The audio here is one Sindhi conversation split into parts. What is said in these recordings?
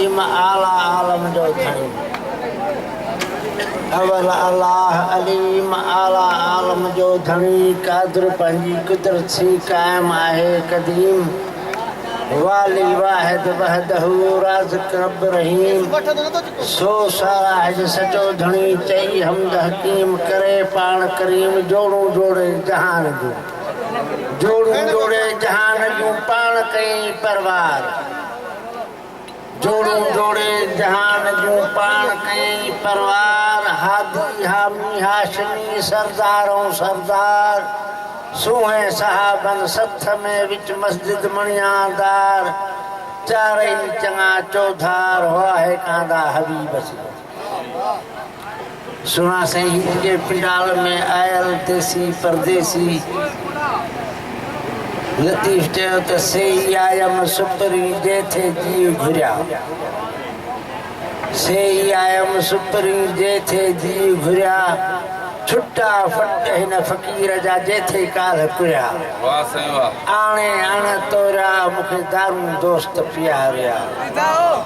م اعليٰ عالم جو ڌڻي اول الله عليم اعليٰ عالم جو ڌڻي قادر پنهنجي قدرت سي قائم آهي قديم والي واحد وحده رازق رب رحيم سو سارا هج سچو ڌڻي چئي حمد حڪيم ڪري پاڻ ڪريم جوڙون جوڙي جهان جون جوڙون جوڙي جهان جون پاڻ ڪئي پروار جوڙو جوڙي جهان جون پاڻ ڪيئي پروار، هادي، حامي، هاشمي، سردار ۽ سردار، سونهين صحابن سٿ ۾ وچ مسجد مڻيان دار، چارئي چڱا چوڌار، هئا هيڪاندا حبيب سين. سهڻا سائين هڪ ڪنهن پنڊال ۾ آيل ديسي پرديسي لطيف چيو ته سي ئي آيم سپري جيٿي جي گهريا سي ئي آيم سپري جيٿي جي گهريا ڇٽا فٽ هن فقير جا جيٿي ڪالهه ڪريا آڻي اڻ توريا مونکي دارون دوست پياريا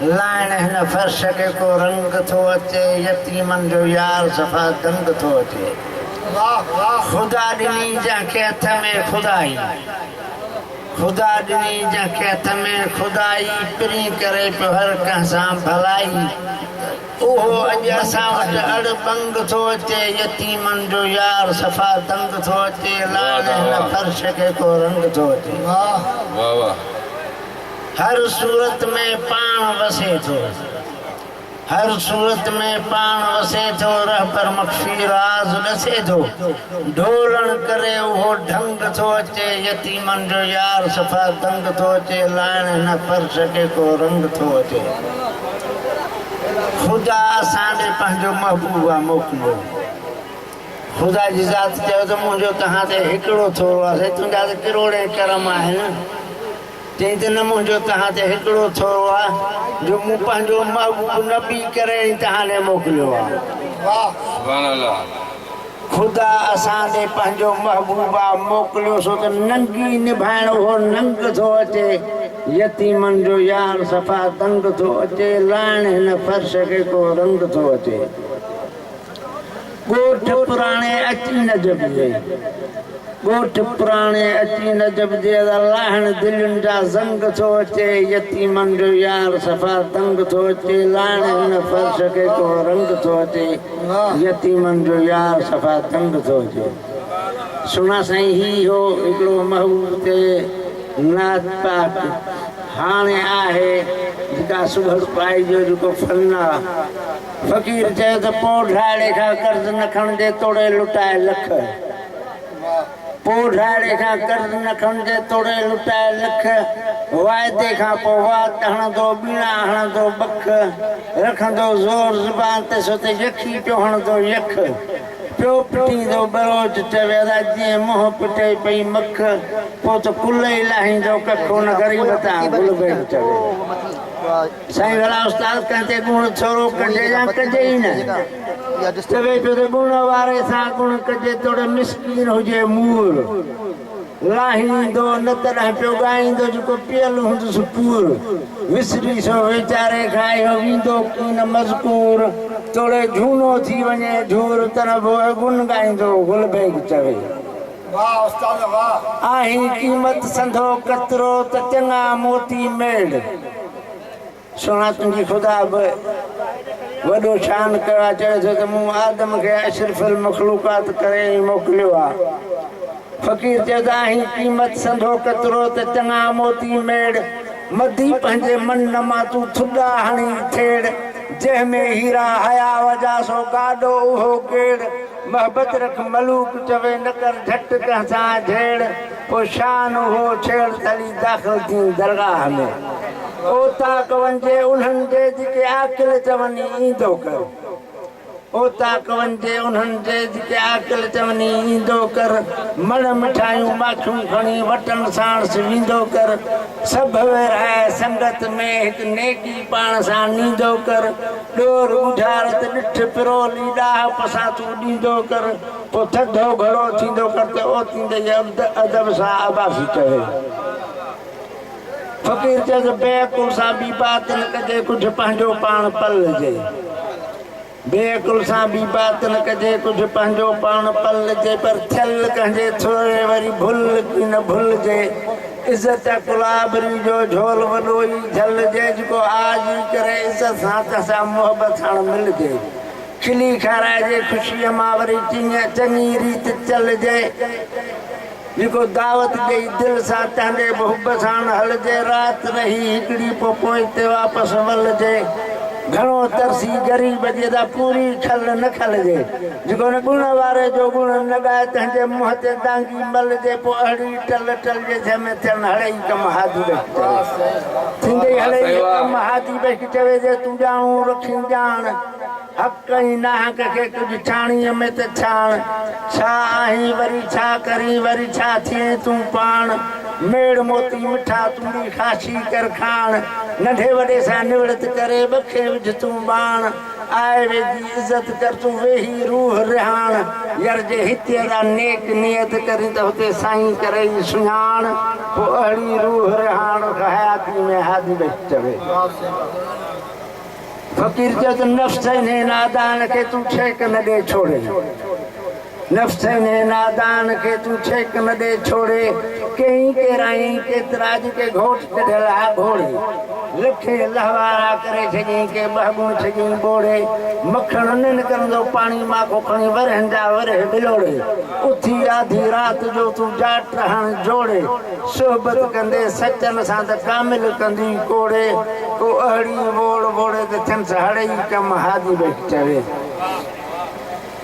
لائڻ هن فرش کي ڪو رنگ ٿو اچي يتيمن جو يار صفا دنگ ٿو اچي خدا ڏني جنهن کي هٿ ۾ خدائي خدا ڏني جنهن کي هٿ ۾ خدائي پرين ڪري پيو هر ڪنهن سان ڀلائي اهو اڄ اسان وٽ اڙ ٻنگ ٿو اچي يتيمن جو يار صفا دنگ ٿو اچي لائڻ هن فرش کي ڪو رنگ ٿو اچي. هر صورت ۾ پاڻ وسي ٿو هر صورت ۾ پاڻ وسي ٿو رهبر مخفي راز ڏسي ٿو ڍولڻ ڪري اهو ڍنگ ٿو اچي يتيمن جو يار صفا دنگ ٿو اچي لائڻ هن فرش کي ڪو رنگ ٿو اچي خدا اسان ڏي پنهنجو محبوب آ موڪليو خدا جي ذات چيو ته منهنجو توهان تي هڪڙو ٿورو آسي تنهنجا ته ڪروڙين ڪرم آهن تنهن تي نه منهنجو توهان تي هڪڙو ٿورو آهي جو مون پنهنجو محبوب نبي ڪري ۽ توهان ڏي موڪليو آهي. خدا اسان ڏي پنهنجو محبوب آ موڪليو سو ته ننگي نڀائڻ اهو ننگ ٿو اچي يتيمن جو يار صفا دنگ ٿو اچي لائڻ هن فرش کي ڪو رنگ ٿو اچي. ڳوٺ پراڻي اچي نجف جي ڳوٺ پراڻي اچي نجف جي ادا لاهڻ دلين جا زنگ ٿو اچي يتيمن جو يار صفا دنگ ٿو اچي لاهڻ هن فرش کي ڪو رنگ ٿو اچي يتيمن جو يار صفا دنگ ٿو اچي سهڻا سائين هي هو هڪڙو محبوب تي نعت پاڪ هاڻي آهي جيڪا سڀ پائجو جيڪو فن آ فقير چيو ته پوء ڍاڙي کان قرض نه کڻجي توڙي لٽائي لک. پوء ڍاڙي کان قرض نه کڻجي توڙي لٽائي لک. وعدي کان پوء وات هڻندو ٻيڻا هڻندو ٻک. رکندو زور زبان تي سو ته يخي پيو هڻندو يخ. پيو پٽيندو ٻروچ چوي ادا جيئن منهن پٽي پئي مک. پوء ته ڪلهه ئي لاهيندو ڪک ان غريب تان گلبيل چوي. سائين ڀلا استاد ڪنهن تي ڳڻ ڇورو ڪجي يا ڪجي ئي نه چوي پيو ته ڳڻ واري سان ڳڻ ڪجي توڙي مسڪين هجي مور لاهيندو نه تڏهن پيو ڳائيندو جيڪو پيل هوندس پور وسري سو ويچاري کان اهو ويندو ڪين مذڪور توڙي جهونو ٿي وڃي جهور تڏهن به اهو ڳڻ ڳائيندو گل بيگ چوي واه استاد واه. آهين قيمت سنڌو قطرو ته چڱا موتي ميڙ. سهڻا تنهنجي خدا به وڏو شان ڪيو آ چوي ٿو ته مون آدم کي اشرف المخلوقات ڪري ئي موڪليو آ فقير چيو ته آهين قيمت سنڌو قطرو ته چڱا موتي ميڙ مدي پنهنجي من نما تون ٿڏا هڻي ٿيڙ جنهن ۾ هيرا هيا وجا سو گاڏو اهو ڪيڙ. محبت رک ملوڪ چوي نه ڪر جھٽ ڪنھن سان جھيڙ پوء شان اھو ڇيڙ تلي داخل ٿين درگاھ ۾ اوطاق وڃجي انھن جي جيڪي عاقل چوني ايندو ڪر اوطاق وڃجي انھن جي جيڪي عاقل چوني ايندو ڪر مڙھ مٺايون ماکيون کڻي وٽن ساڻس ويندو ڪر سڀ ويرھائي سنگت ۾ ھڪ نيڪي پاڻ سان نيندو ڪر ڏور ٻوجهار تي ڏٺ پرولي ڏاهپ سان تون ڏيندو ڪر پوء ٿڌو گهڻو ٿيندو ڪر ته اوتيندي ئي ادب سان عباسي چوي فقير چيس بي عقل سان بي باطن ڪجي ڪجهه پنهنجو پاڻ پلجي بي عقل سان بي باطن ڪجي ڪجهه پنهنجو پاڻ پلجي پر ٿيل ڪنهن جي ٿوري وري ڀل ڪي نه ڀلجي عزت ڪلابري جو جهول وڏو ئي جهل جي جيڪو آء جي ڪري عزت سان ته سا محبت ساڻ ملجي کلي کارائجي خوشيء مان وري چڱي ريت چلجي جيڪو دعوت ڏئي دل سان تنهنجي به حب ساڻ هلجي رات رهي هڪڙي پو پوئتي واپس ولجي گهڻو ترسي غريب جي ته پوري کل نه کلجي جيڪو نه ڳڻ واري جو ڳڻ نه ڳائي تنهنجي منهن تي دانگي ملجي پو اهڙي ٽل ٽل جي ڌئ ۾ تيڻ هڙئي ڪم هادي وهي چوي. ٿيندئي هڙئي ڪم هادي وهي چوي جي تون ڄاڻو رکين ڄاڻ. حق ۽ ناحق کي ڪجهه ڇاڻيء ۾ ته ڇاڻ. ڇا آهين وري ڇا ڪرين وري ڇا ٿئين تون پاڻ. ميڙ موتي مٺا تونڙي خاشي ڪر کاڻ. ننڍي وڏي سان نوڙت ڪري ٻکي وجهه تون ٻاڻ. آء ويجهي عزت ڪر تون ويهي روح رهاڻ ير جي هتي جا نيڪ نيت ڪرين ته هتي سائين ڪرئي سڃاڻ پوء اهڙي روح رهاڻ حياتي ۾ هادي بخش چوي فقير چيو ته نفس انهي نادان کي تون ٺيڪ نه ڏي ڇوڙين. نفس انهيء نادان کي تون ڇيڪ نه ڏي ڇوڙي، ڪيئي ڪيرائين، ڪيترا جي ڪي گهوٽ ڪڍيل ها گهوڙي، لکين الله وارا ڪري ڇڏيئين، ڪي ٻه ڳون ڇڏيئين ٻوڙي، مکڻ نه نڪرندو پاڻي مان ڪو کڻي ورهين جا ورهيه ٻلوڙي، اٿي آڌي رات جو تون جاٽ هڻ جوڙي، صحبت ڪندي سچن سان ته ڪامل ڪندي ڪوڙي، ڪو اهڙي ووڙ ووڙي ته ٿينس هڙئي ڪم هادي ٻيٺ چوي.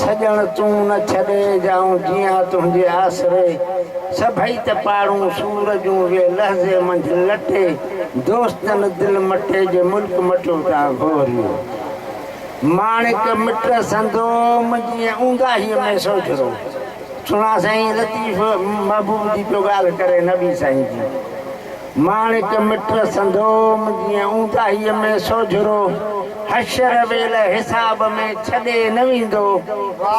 سڄڻ تون نه ڇڏي ڄائون جيئان تنهنجي آسري سڀئي ته پاڙون سور جون ويهه لحظي منجهه لٽي دوستن دل مٽي جي ملڪ مٽيو تان گهوريو ماڻڪ مٽ سندو منهنجي اونداهي ۾ سوجهرو سڻا سائين لطيف محبوب جي پيو ڳالهه ڪري نبي سائين جي ماڻڪ مٽ سندوم جيئن اونداهيء ۾ سوجهرو حشر ويل حساب ۾ ڇڏي نه ويندو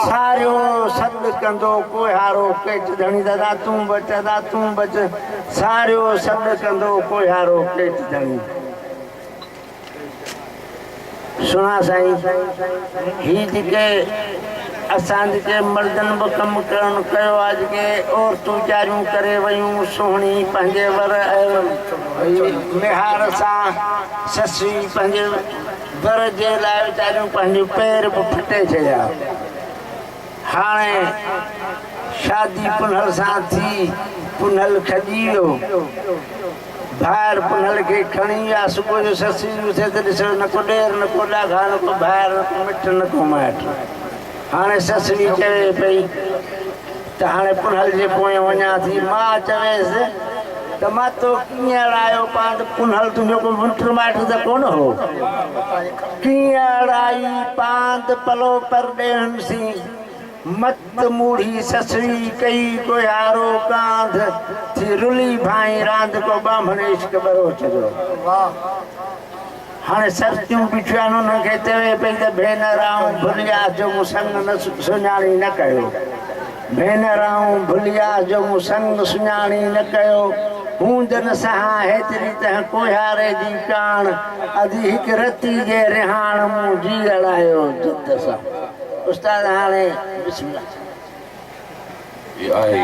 ساريو سڏ ڪندو ڪوهيارو ڪيچ ڌڻي دادا تون بچ ادا تون بچ ساريو سڏ ڪندو ڪوهيارو ڪيچ ڌڻي. سھڻا سائين ھي جيڪي اسان جيڪي مردن به ڪم ڪون ڪيو آ جيڪي عورتون جاريون ڪري ويون سهڻي پنهنجي ور ميهار سان سسي پنهنجي ور جي لاء ويچاريون پنهنجو پير به ڦٽي ڇڏيا هاڻي شادي پنهل سان ٿي، پنهل کڄي ويو. ڀائر پنهل کي کڻي ويا. صبح جو سسئي اٿي ته ڏسيو نه ڪو ڏير نه ڪو ڏاگها، نه ڪو ڀائر، نه ڪو مٽ، نه ڪو مائٽ. هاڻي سسئي چوي پئي ته هاڻي پنهل جي پويان وڃان ٿي. ماء چويس ته مان تو ڪيئن اڙايو پاند، پنهل تنهنجو ڪو مٽ مائٽ ته ڪونه هو. تيئن اڙائي پاند پلو پر ڏيهن سين، مت موڙهي سسئي ڪئي ڪوهيارو ڪانڌ، ٿي رلي ڀائين راند ڪو ٻانڀڻ عشق ٻروچ جو. هاڻي سرتيون بيٺيون آهن انهن کي چوي پئي ته ڀينر آئون ڀلياس جو مون سڱ نه سڃاڻي نه ڪيو. ڀينر آئون ڀليا جو مون سنگ سڃاڻي نه ڪيو هوندن سهان هيتري تنهن ڪوهياري جي ڪاڻ ادي هڪ رتي جي رهاڻ مون جي اڙايو جد سان استاد هاڻي بسم الله جي آهي